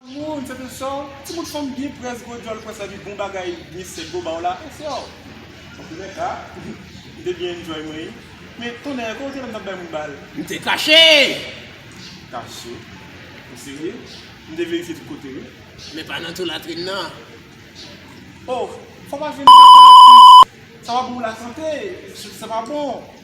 Woo m sèten sew ti bout fanm byen près gwo djòl pwès epi bon bagay byen sèk bo baw la e sew. Antoulè ka m te byen enjoy mwen wi men tonnè kow te lèm tap bay moun bal. M te kache! Kache? Ou serye? M te verifye tout kote wi. Men pa nan tou latrin nan. Oh fò pa jwenn kaka atis sa pa bon pou lasante sa pa bon.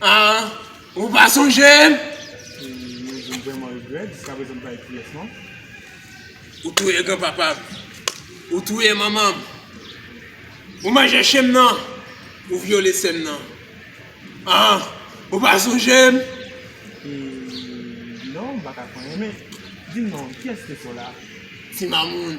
Ah, ou pa sonje m? Mwen vreman regrèt, jiska prezan m pa ekri yes non. Ou touye gran papa m. Ou touye manman m. Ou manje chen m nan. Ou vyole sè m nan. Ah, ou pa sonje m? Non, m pa ka konnen men. Di m non, kiyès te sè w la? Ti mamoun.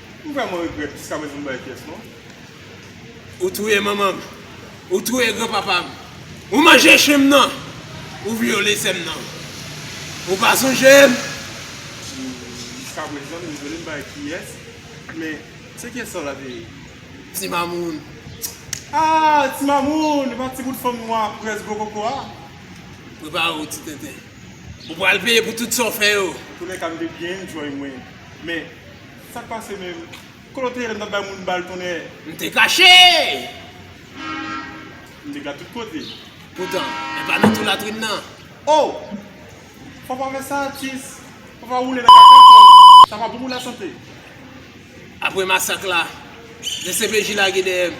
M vreman regret jiska prezan m bay pyes non. Ou touye manman m. Ou touye gran papa m. Ou manje chen m nan. Ou vyole sè m nan. Ou pa sonje m. Jiska prezan m dezole m bay pyes. Men se pyes sa w lave ye. Ti mamoun. Aah ti mamoun. E pa ti bout fanm nwa près gwo koko a. Prepare w ti tenten. Ou pral peye pou tout sa w fè yo. Antounen ka m te byen enjoy mwen. Men. Sak pase menm? Kote w te ye lè m t ap bay moun bal tonnè? M te kache! M te gad tout kote. Poutan, e pa nan tou latrin nan. O! Fò pa fè sa atis! Fò pa woule nan kaka kò m! Sa pa bon pou lasante! Apre masak la, dcpj lage dèyè m.